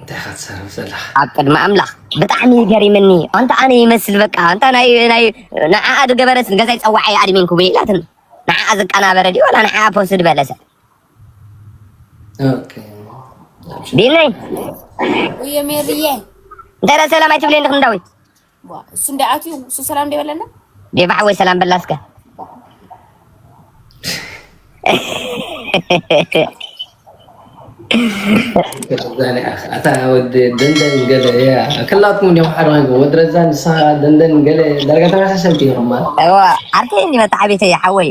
እንታይ ኢኻ ትዛረብ ዘለኻ? ኣብ ቅድሚ ኣምላኽ ብጣዕሚ እዩ ገሪምኒ ኣንታ ኣነ ይመስል በቃ ኣንታ ናይ ናይ ንዓኣ ዝገበረስ ገዛይ ጸዋዓይ ኣድሚን ክቡ ኢላትን ንዓኣ ዝቀናበረ ድዩ ወላ ንዓኣ ፖስድ በለሰ ኦኬ ቢነይ ወይ ሜሪዬ እንተ ሰላም ኣይትብለይ ንክንዳዊት እሱ እንደ ኣትዩ እሱ ሰላም እንደ በለና ዴባዕ ወይ ሰላም በላ እስከ ኣታ ወዲ ደንደን ገለ እያ ክላትኩም እንዲም ሓደ ኮይንኩ ወዲ ረዛ ንስኻ ደንደን ገለ ዳርጋ ተመሳሰልቲ ኢኹማ ዓርከይ እኒ መታዓቢተይ ሓወይ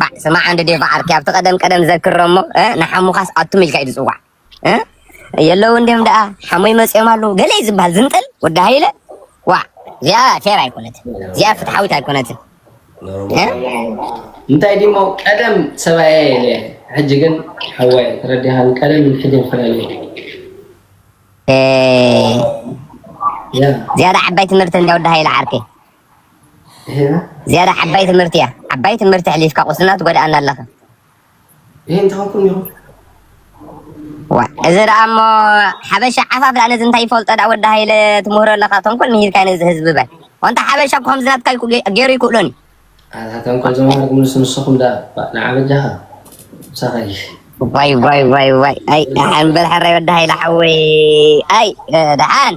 ባዕ ስማዕ እንድ ዴቭ ዓርኪ ኣብቲ ቀደም ቀደም ዘክረ እሞ ንሓሙኻስ ኣቱም ኢልካ እዩ ዝጽዋዕ የለውን ድም ደኣ ሓሞይ መጽኦም ኣለዉ ገለ እዩ ዝበሃል ዝንጥል ወዲ ሃይለ ዋዕ እዚኣ ፌር ኣይኮነትን እዚኣ ፍትሓዊት ኣይኮነትን እንታይ ድሞ ቀደም ሰብኣየ የለ ሕጂ ግን ሓዋይ ተረዲኻን ቀደም ሕጂ ንፈላለዩ ዝያዳ ዓባይ ትምህርቲ እንዳ ወዲ ሃይለ ዓርከይ ዝያዳ ዓባይ ትምህርቲ እያ ዓባይ ትምህርቲ ኣሕሊፍካ ቁስልና ትጎድኣና ኣለኻ እዚ ደኣ እሞ ሓበሻ ዓፋፍ ደኣ ነዚ እንታይ ይፈልጦ ደኣ ወዲ ሃይለ ትምህሮ ኣለኻ ተንኮል ምሂርካ ነዚ ህዝቢ በል ወንታ ሓበሻ እኮ ከምዚ ናትካ ገይሩ ይክእሎን ኣታ ተንኮል ዘማርግ ምንስ ንስኹም ደኣ ንዓበጃኻ ሳኸይ ዋይ ዋይ ዋይ ዋይ ኣይ ደሓን በል ሕራይ ወዲ ሃይለ ሓወይ ኣይ ደሓን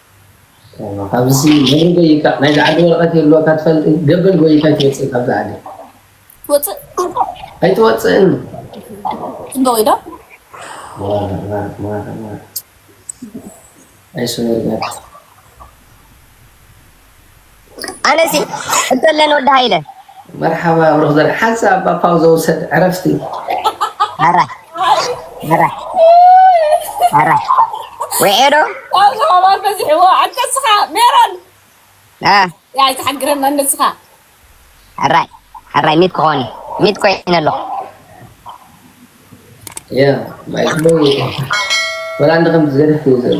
ካብዚሲ በሪ ጎይካ ናይዚ ዓዲ ወረቀት የልወካ ትፈልጢ ገበል ጎይካ ኣይትወፅእን ካብዚ ዓዲ ትወፅእ ኣይትወፅእን እንዶ ወይዳ ኣይሱነርጋት ኣነሲ እደለን ወዲ ሃይለ መርሓባ ብሩኽ ዘር ሓንሳብ እባ ፓውዘ ውሰድ ዕረፍቲ ኣራ ኣራ ኣራ ውዔዶ ካብዚ ኣባል በዚሕዎ ኣንተ ስኻ ሜሮን ያ ኣይትሓግረና ንስኻ ኣራይ ኣራይ ሚት ክኾን ሚት ኮይነ ኣለኹ ያ ማይ ወላ እንደ ከምዚ ዘደፍ እዩ ዘሎ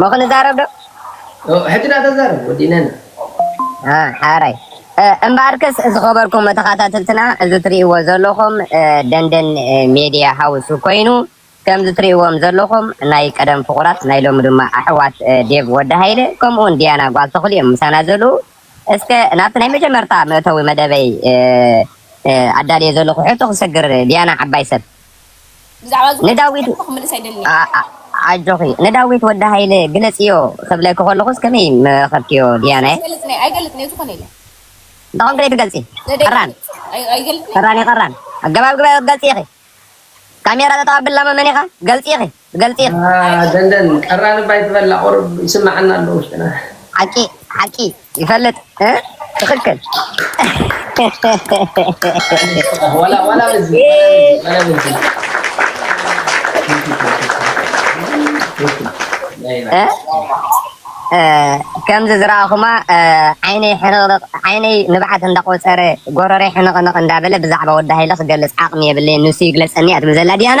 ሞ ክንዛረብ ዶ? ሕጂ ዳኣ ተዛረብ ወዲእናዮ። ሓራይ እምበኣርከስ ዝኸበርኩም ተኸታተልትና እዚ ትርእይዎ ዘለኹም ደንደን ሜድያ ሃውስ ኮይኑ ከምዚ ትርእይዎም ዘለኹም ናይ ቀደም ፍቑራት ናይ ሎሚ ድማ ኣሕዋት ዴቭ ወዲ ሃይለ ከምኡውን ዲያና ጓል ተኽሉ እዮም ምሳና ዘለዉ። እስከ ናብቲ ናይ መጀመርታ መእተዊ መደበይ ኣዳልየ ዘለኹ ሕቶ ክሰግር፣ ዲያና ዓባይ ሰብ፣ ብዛዕባ እዚ ሕቶ ንዳዊት ቀዲሙ ክምልስ ኣይደልን እየ። ኣ- ኣጆኺ ንዳዊት ወዲ ሃይለ ግለጽዮ ክብለኪ ከለኹስ ከመይ ምረኸብክዮ ዲያናየ? ኣይገልጽንየ ኣይገልጽንየ ዝኾነ የለን እንታይ ኮንኪ ዘይትገልጺ? ዘደይ ቀራን ኣይ- ኣይገልጽንየ ቀራን ኢኺ ቀራን ኣገባብ ግበ ገልጺ ኢኺ ካሜራ ጠጠው ኣብላ መመን ኢኻ ገልጺ ኢኺ ገልጢር ኣኣ ደንደን ቀራንባ ኣይትበላ ቁሩብ ይስመዓና ኣሎ ውሽጥና። ሓቂ ሓቂ ይፈልጥ ትኽክል። ከምዚ ዝረኣኹማ ዓይነይ ሕንቕንቕ ዓይነይ ንብዓት እንዳቖጸረ ጎረረይ ሕንቕንቕ እንዳበለ ብዛዕባ ወዲ ሃይለ ክገልጽ ዓቕሚ የብለይን ንሱ ይግለጸኒ እያ ትብል ዘላ ዲያና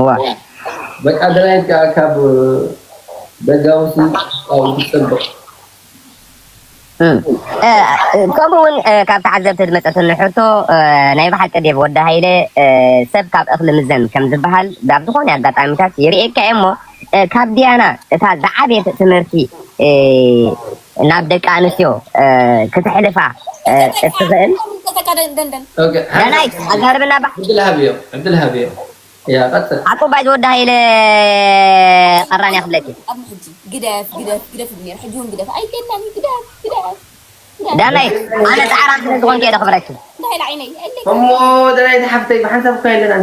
እዋይ በቃ ድራይቭ ከኣ ካብ ደጋውሲ ውሽጣዊ ትጸብቕ። እም ከምኡ ውን ካብ ተዓዘብቲ ዝመጸትኒ ሕቶ ናይ ብሓቂ ዴቭ ወዲ ሃይለ ሰብ ካብ እኽሊ ምዘን ከም ዝብሃል ኣብ ዝኾነ ኣጋጣሚታት ይርእየካ እየ እሞ ካብ ዲያና እታ ዝዓበየት ትምህርቲ ናብ ደቂ ኣንስትዮ ክተሕልፋ እትኽእል ዳናይት ኣዛርብና ባሕ ዓቁባይ ዝወዲ ሃይለ ቀራንያ ክብለኪ ዳናይት ኣነ ጻዕራም ስለ ዝኾንኩ እየ ዘኽብረኪ እሞ ዳናይት ሓፍተይ ብሓንሳብ እኮ የለናን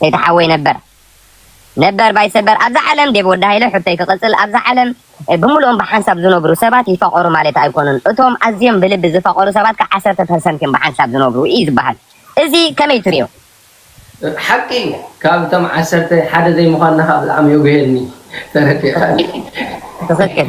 ሰይቲ ሓወይ ነበር ነበር ባይ ሰበር ኣብዛ ዓለም ዴቭ ወዲ ሃይለ ሕቶይ ክቅጽል ኣብዛ ዓለም ብሙሉኦም ብሓንሳብ ዝነብሩ ሰባት ይፋቀሩ ማለት ኣይኮኑን እቶም ኣዝዮም ብልቢ ዝፋቀሩ ሰባት ክኣ ዓሰርተ ፐርሰንት እዮም ብሓንሳብ ዝነብሩ እዩ ዝባሃል እዚ ከመይ ትሪኦ። ሓቂ እዩ ካብ እቶም ዓሰርተ ሓደ ዘይምኳንና ከኣ ብጣዕሚ የጉህየኒ ተረዲእካኒ። ትኽክል።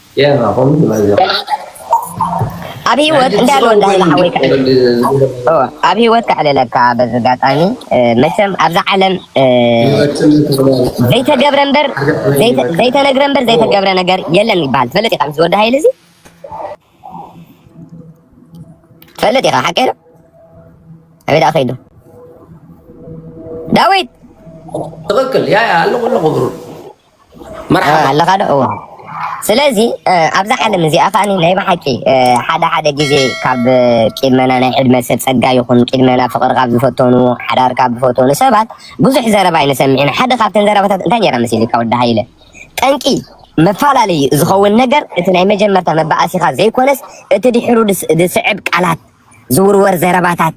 ኣብ ሂወት እንዳ ኣሎ እንዳ ህባ ሓወይ ኣብ ሂወት ከዕልለካ በዚ ኣጋጣሚ መቸም ኣብዛ ዓለም ዘይተገብረ እምበር ዘይተነግረ እምበር ዘይተገብረ ነገር የለን ይበሃል ትፈልጥ ኢኻ ምስ ወዲ ሃይለ እዚ ትፈልጥ ኢኻ ሓቀይ ዶ ኣበይ ደኣ ከይዱ ዳዊት ትኽክል ያ ኣለኹ ኣለኹ ብሩ መርሓባ ኣለኻ ዶ እወ ስለዚ ኣብዛ ዓለም እዚኣ ከዓ ናይ ብሓቂ ሓደ ሓደ ግዜ ካብ ቂድመና ናይ ዕድመ ሰብ ፀጋ ይኹን ቂድመና ፍቅሪ ካብ ዝፈተኑ ሓዳር ካብ ዝፈተኑ ሰባት ብዙሕ ዘረባ ይንሰምዕ ኢና ሓደ ካብተን ዘረባታት እንታይ ነይራ መሲልካ ወዲ ሃይለ ጠንቂ መፈላለዩ ዝኸውን ነገር እቲ ናይ መጀመርታ መባኣሲኻ ዘይኮነስ እቲ ድሕሩ ዝስዕብ ቃላት ዝውርወር ዘረባታት፣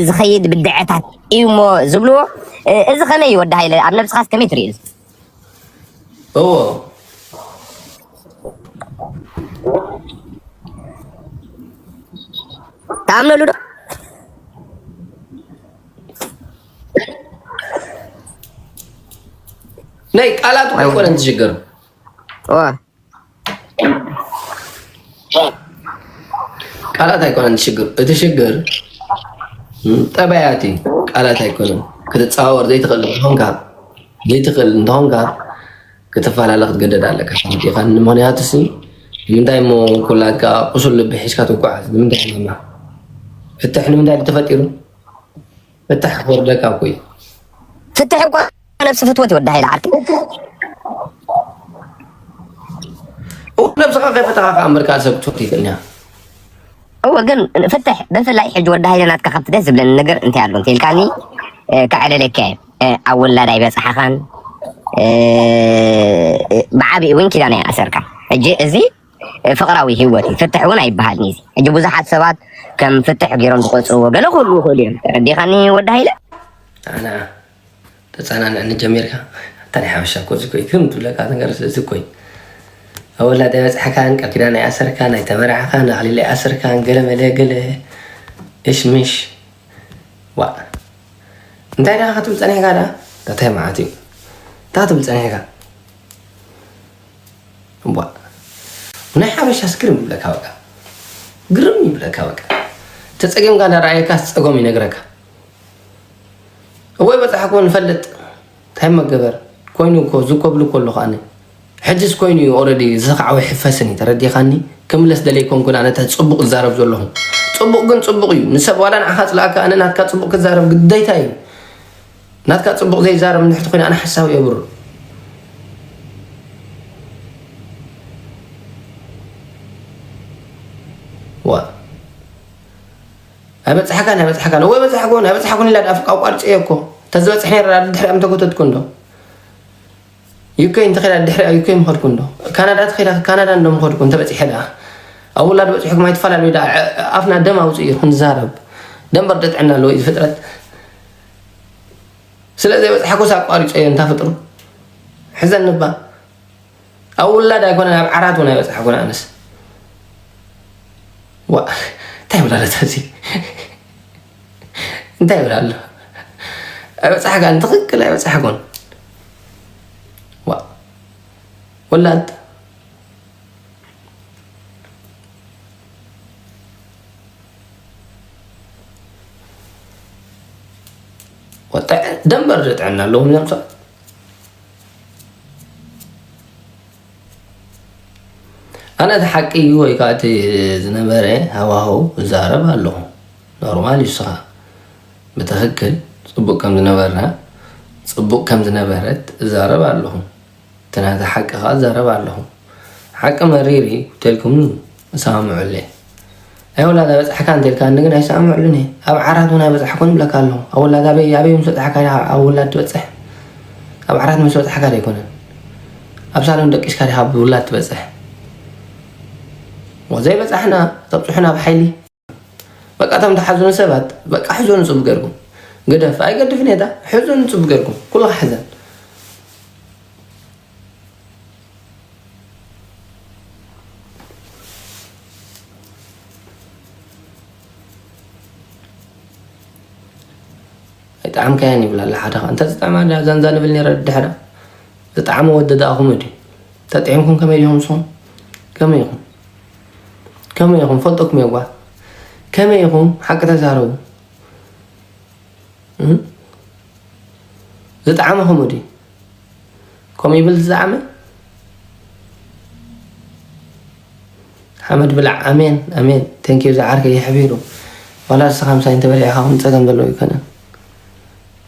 ዝኸይድ ብድዐታት እዩሞ ዝብልዎ እዚ ከመይ እዩ ወዲ ሃይለ ኣብ ነብስኻስ ከመይ ትሪኦ እዚ? እዎ ትኣምነሉ ዶ? ናይ ቃላቱ ኣይኮነን ዝሽግር። ቃላት ኣይኮነን ሽግር እቲ ሽግር ጠባያት እዩ ቃላት ኣይኮነን ክትፀዋወር ዘይትኽእል እንተኾንካ ዘይትኽእል እንተኾንካ ክትፈላለ ክትገደድ ኣለካ ፋልጢኻ ንምክንያቱ ሲ ንምንታይ እሞ ኩላትካ ቁሱል ልቢ ሒዝካ ትጓዓዝ ንምንታይ ፍትሕ ንምንታይ ተፈጢሩ ፍትሕ ክወርደካ እኮ እዩ ፍትሕ እኳ ነብሲ ፍትወት ይወዳ ሃይለ ዓርኪ ነብስኻ ከይፈተኻ ከዓ ምርካ ሰብ ክትፈት ይኽእል እያ እወ ግን ፍትሕ ብፍላይ ሕጂ ወዲ ሃይለ ናትካ ካብቲ ደስ ዝብለኒ ነገር እንታይ ኣሎ እንተልካኒ ከዕለለካ እየ ኣብ ውላድ ኣይበፅሓኻን ብዓብኡ እውን ኪዳን ኣይኣሰርካ ሕጂ እዚ ፍቅራዊ ሂወት እዩ ፍትሕ እውን ኣይበሃልን እዩ ሕጂ ብዙሓት ሰባት ከም ፍትሕ ገይሮም ዝቆፅርዎ ገለ ክህሉ ይኽእሉ እዮም ተረዲኻኒ ወዲ ሃይለ ኣና ተፀናንዕኒ ጀሚርካ ኣታ ናይ ሓበሻ እኮ እዚ ኮይ ክም ትብለካ ነገር እዚ ኮይ ኣብ ወላዳ በፅሕካን ቃል ኪዳን ኣይኣሰርካን ኣይተመራዕኻን ኣኽሊል ኣይኣሰርካን ገለ መለ ገለ እሽምሽ ዋ እንታይ ደኻ ክትብል ፀኒሕካ ዳ እንታይ መዓት እዩ እንታይ ክትብል ፀኒሕካ እዋእ ናይ ሓበሻስ ግርም ይብለካ በቃ ግርም ይብለካ በቃ ተፀጊምካ እንዳረኣየካ ፀጎም ይነግረካ እወይ በፃሕኮ ንፈልጥ እንታይ መገበር ኮይኑ እኮ ዝኮብሉ ከሎ ከዓ ሕጅስ ኮይኑ እዩ ኦረዲ ዝሰክዓዊ ሕፈስን እዩ ተረዲኻኒ ክምለስ ደለይ ኮንኩን ኣነ ፅቡቅ ዝዛረብ ዘለኹ ፅቡቅ ግን ፅቡቅ እዩ ንሰብ ዋላ ንዓኻ ፅላእካ ኣነ ናትካ ፅቡቅ ክዛረብ ግደታ እዩ ናትካ ፅቡቕ ዘይዛረብ እንድሕር ተኾይኑ ኣነ ሓሳዊ እየ ብሮ። ኣይበፅሓካን ኣይበፅሓካን ወይ በፅሓኩን ኣይበፅሓኩን ኢላ ድኣ ኣቋርፀ እየ እኮ ተዝበፅሕ ነረ ድሕሪኣ ምተጎተትኩ እንዶ ዩከይ እንተኸዳ ድሕሪኣ ዩከይ ምኸድኩ እንዶ ካናዳ ተኸዳ ካናዳ እንዶ ምኸድኩ እንተበፂሐ ድኣ ኣብ ውላድ በፅሑኩም ኣይትፈላለዩ ድኣ ኣፍና ደም ኣውፅእ እዩ ክንዛረብ ደንበር ጥዕና ኣለዎ እዩ ፍጥረት ስለ ዘይበፅሓኩስ ኣቋሪፀዮ እንታ ፍጡር ሕዘኒ እባ ኣብ ውላድ ኣይኮነን ኣብ ዓራት እውን ኣይበፅሓኩን ኣነስ ዋእ እንታይ ይብላ ኣለታ እዚ እንታይ ይብላ ኣሎ ኣይበፅሓካን ትኽክል ኣይበፅሓኩን ዋእ ወላድ ደንበ ጥዕና ኣለዎም እዮም ሰባት ኣነ እቲ ሓቂ እዩ ወይ ከዓ እቲ ዝነበረ ሃዋህው እዛረብ ኣለኹ ኖርማል እዩ ስኻ ብትክክል ፅቡቅ ከም ዝነበርና ፅቡቅ ከም ዝነበረት እዛረብ ኣለኹ እቲ ናተይ ሓቂ ከኣ እዛረብ ኣለኹ ሓቂ መሪር እዩ ተልኩምኒ እሰማምዐሉየ ናይ ወላድ ኣይበጽሕካ እንተልካኒ ግን ኣይሰማምዐሉን እየ ኣብ ዓራት እውን ኣይበጽሕኩን ይብለካ ኣለኹ ኣብ ወላድ ኣበይ ኣበይ ምስ በጽሕካ ኣብ ወላድ ትበጽሕ ኣብ ዓራት ምስ በጽሕካ ዘይኮነን ኣብ ሳሎን ደቂስካ ዲኻ ብውላድ ትበጽሕ ወዘይ በጻሕና ተብጽሑና ብሓይሊ በቃ እቶም ተሓዙኑ ሰባት በቃ ሕዞኑ ጽቡቅ ገርኩም ግደፍ ኣይገድፍን እየ ሕዞኑ ጽቡቅ ገርኩም ኩሉ ክሓዘን ጣዕም ከያን ይብላ ኣላ ሓደ እንተ ዝጣዕማ ዛንዛ ንብል ነረ ድሕራ ዝጣዕሚ ወደዳእኹም እድ ተጥዒምኩም ከመይ ዲኹም ስኹም ከመይ ኢኹም ከመይ ኢኹም ፈልጠኩም እየ ጓል ከመይ ኢኹም ሓቂ ተዛረቡ ዝጠዓመ ከምኡ ድዩ ከምኡ ይብል ዝጠዓመ ሓመድ ብላዕ ኣሜን ኣሜን ተንኪዩ ዝዓርከ ይሕቢሩ ዋላ ንስኻ ምሳይ እንተበሊዕኻ ውን ፀገም ዘለዎ ኣይኮነን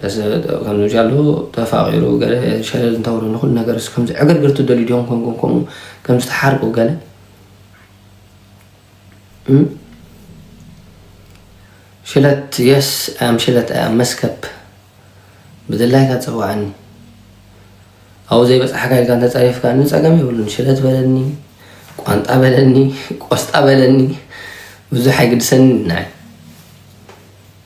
ከምዚ ጃሎ ተፋቂሩ ገለ ሸለል እንተብሎ ንኩሉ ነገር ከምዚ ዕግርግር ትደልዩ ዲኹም ኮንኩም ከምኡ ከምዚ ተሓርቁ ገለ ሽለት የስ ኣም ሽለት ኣም መስከብ ብድላይካ ፀዋዕኒ ኣብኡ ዘይበፅሓካ ኢልካ እንተፀሪፍካ ንፀገም የብሉን ሽለት በለኒ ቋንጣ በለኒ ቆስጣ በለኒ ብዙሕ ኣይግድሰኒ ናይ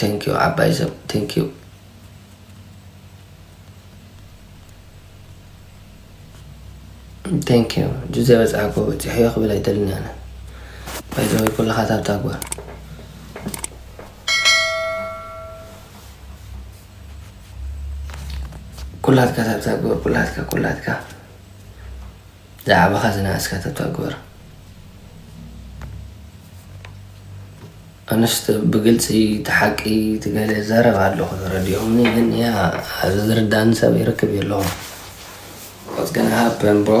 Thank you ዓባይ ሰብ thank you thank you ጁዘ በፅሓኮ በፂሐዮ ክብል ኣይደልን ኣነ ባይዘወ ኩልኻ ታብታ ጓል ኩላትካ ታብታ ጓል ኩላትካ ኩላትካ ዛዕባኻ ዝነኣስካ ተተግብር ኣነስ ብግልፂ ተሓቂ ትገለ ዘረብ ኣለኹ ዝረድኦምኒ ግን ያ ኣብዚ ዝርዳእኒ ሰብ ይርክብ የለኹ What's gonna happen bro?